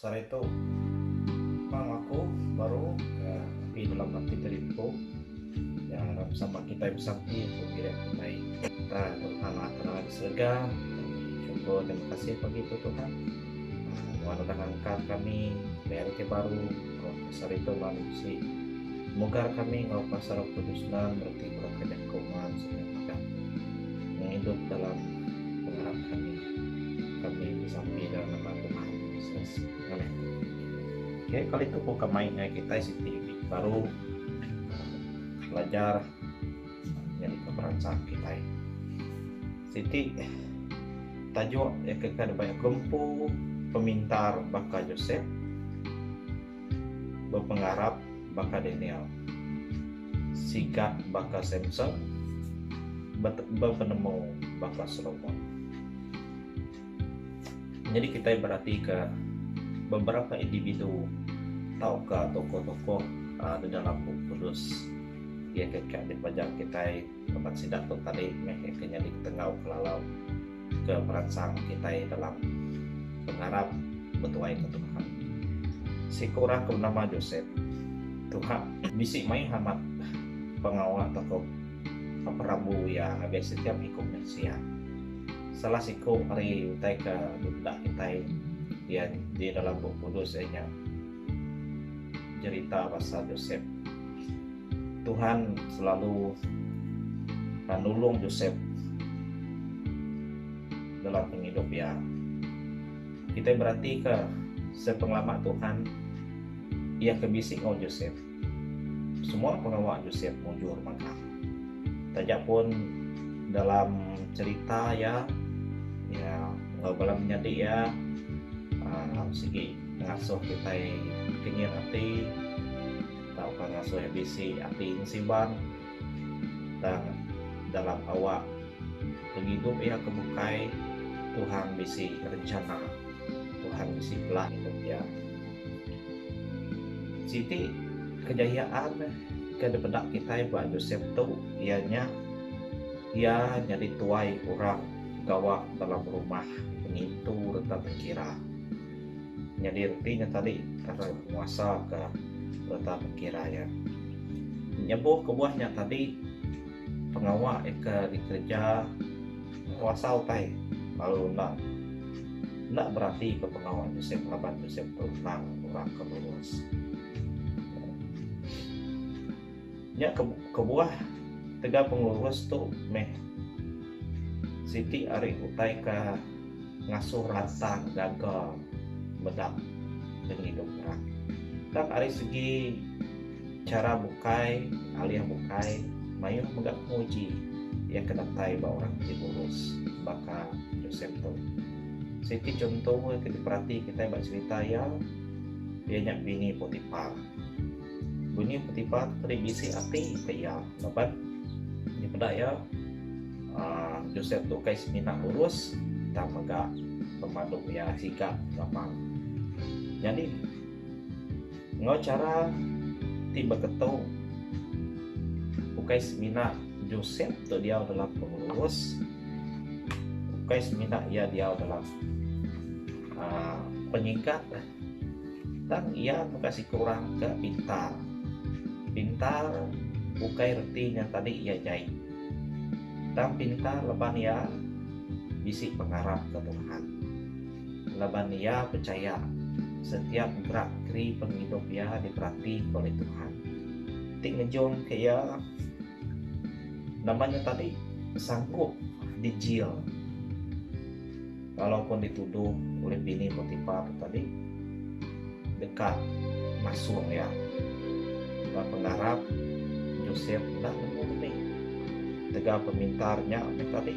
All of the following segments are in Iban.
Sehari tu Pang aku baru ke api dalam ati tadi empu ya harap sama kita bersakti tu kira baik kita Tuhan lah tenang di surga syukur terima kasih pagi tu Tuhan Tuhan sudah angkat kami ke hari ke baru oh, sehari tu lah si mugar kami ngau pasar kudus nan berarti berkena Kuman semua madah nya idup dalam pengarap kami kami disampi dalam nama Tuhan Yesus amin okay, kali tu ku kemai dengan kita siti baru belajar jadi keperancang kita siti tajuk yang kekal baik gempu pemintar baka Joseph Bepengarap baka Daniel. Sigap baka Samson. Bepenemu baka Solomon. Nyadi kitai beratika beberapa individu tauka tokoh-tokoh di dalam Bup Kudus iya ke dipelajar kitai. Laban sida tu tadi meh ke nyadi ketenggau kelalau ke meransang kitai dalam pengarap betuaika Tuhan. Siku orang ke benama Josep tuhak. Bisi maih amat pengawa toko ke perambu iya ngagai setiap iku mensia. Salah siku ari utai ke dipeda kitai iya di dalam Bup Kudus iya nya jerita pasal Josep. Tuhan selalu ka nulung Josep dalam pengidup iya. Kita beratika sepengelama Tuhan iya ke bisi ngau Josep. Semua pengawa Josep mujur mega. Taja pun dalam cerita iya iya eh, bala menyadi iya ah, sigi ngasuh kita kenyit ati tauka ngasuh bisi ati Nsiban tang dalam awak pengidup iya ke bukai Tuhan bisi rencana Tuhan bisi plan idup iya. Siti kejayaan ke dipeda kitai ba Josep tu iya nya iya nyadi tuai orang gawa dalam rumah pengintu reta tengkira. Nyadi reti nya tadi tara nguasa ka reta pekira iya. Nyebuh kebuah nya tadi pengawa ika dikereja nguasa utai lalu endang enda berati ke pengawa Josep laban Josep tu endang orang ke lurus. Nya kebuah tegal pengurus tu meh siti ari utai ke ngasuh ransang gaga meda pengidup orang. Tang ari segi chara bukai alih bukai mayuh mega penguji iya ke datai ba orang ti ngurus baka Josep tu. Siti chunto ke diperati kitai ba cherita iya, iya nya Bini Potipar. Bunyi petipa tu tadi bisi ati ke iya laban nya peda iya aa Josep tu kai semina lurus tang mega pemadu iya sigap gampang. Nyadi enggau chara ti beketu ukai semina Josep tu diau dalam pengelurus ukai semina iya diau dalam aa penyigap. Tang iya mega siku orang ke pintar. Pintar ukai reti nya tadi iya jai. Tang pintar laban iya bisi pengarap ke Tuhan. Laban iya pechaya setiap gerak geri pengidup iya diperatika oleh Tuhan. Ti ngejung ke iya nama nya tadi sanggup dijil. Walaupun dituduh ulih bini Potipa tu tadi deka masung iya, ba pengarap Josep enda nemu benih. Tegal pemintar nya meh tadi,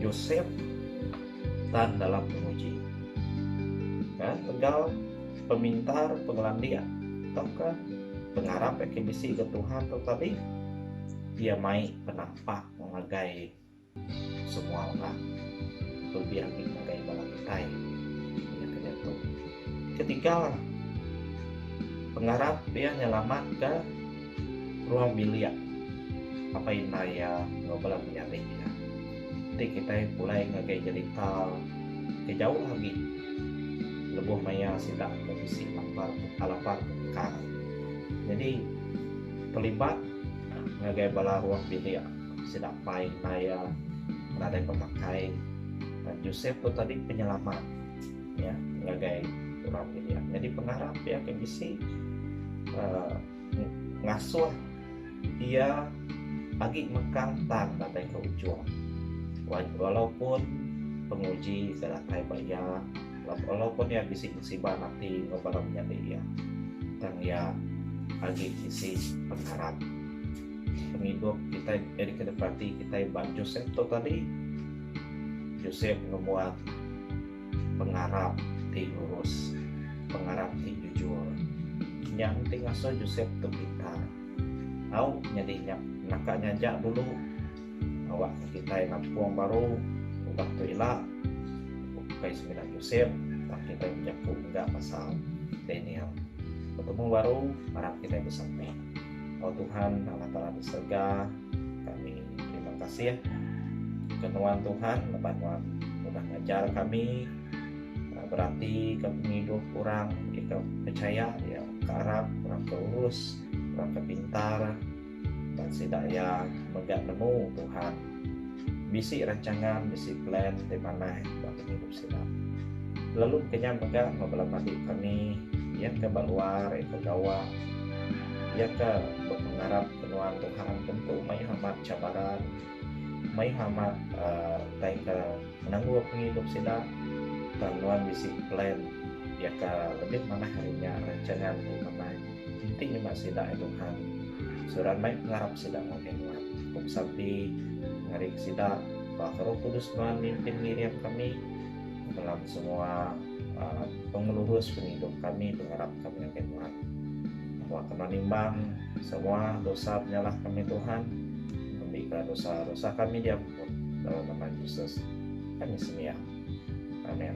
Josep tan dalam penguji. Ka tegal pemintar, pengelandik tauka pengarap iya ke bisi ga Tuhan tu tadi, iya mai penampak ngagai Semua orang lebih ambil ngagai bala kitai iya ke diatu. Ketiga, pengarap iya nyelamatka ruang bilik apai indai iya enggau bala menyadi iya. Enti kitai pulai ngagai jerita ke jauh agi lebuh maya sida ke bisi lapar lapar bungkang. Nyadi terlibat ngagai bala ruang bilik. Sedapai endar iya nadai pemakai, Josep tu tadi penyelamat iya ngagai orang bilik. Nyadi pengarap iya ke bisi uh, ngasuh iya agi mekang tang datai ke ujung. Walaupun penguji ke datai ba iya, walaupun iya bisi musibah nanti enggau bala menyadi iya, tang iya agi bisi pengarap. pengidup kitai jadi kena berati kitai ba Joseph tu tadi Joseph ngebuat pengarap ti lurus pengarap ti jujur nya enti ngasuh Joseph tu pintar au nyadi nya naka nyaja dulu awak kitai nampung baru udah tu ila ukai semina Joseph tak kitai bejaku mega pasal Daniel betemu baru arap kitai besampi Oh Tuhan Allah Taala di serga kami terima kasih ke nuan Tuhan lepas nuan udah ngajar kami ah, berarti ke pengidup orang dia ke percaya dia ke arap orang ke urus orang ke pintar dan sida ya mega nemu Tuhan bisi rancangan bisi plan di manah ba pengidup Sedap. Lalu kenyam mega enggau bala pagi kami, iya ke ba luar, iya ke gawa, iya ke bepengarap ke nuan Tuhan tentu mayuh amat cabaran, mayuh amat aaa utai ke menanggul pengidup sida tang nuan bisi plan iya ke lebih manah ari nya rancangan ti manah enti nyema sida ai Tuhan surat mai pengarap sida ngagai nuan. Ku besampi ngaring sida. Ba Roh Kudus nuan mimpin ngiring kami dalam semua uh, pengelurus pengidup kami pengarap kami ngagai nuan. Bawa kami nimbang semua dosa penyalah kami Tuhan. Ambilkan dosa-dosa kami diampun dalam nama Yesus. Kami semia. Amin.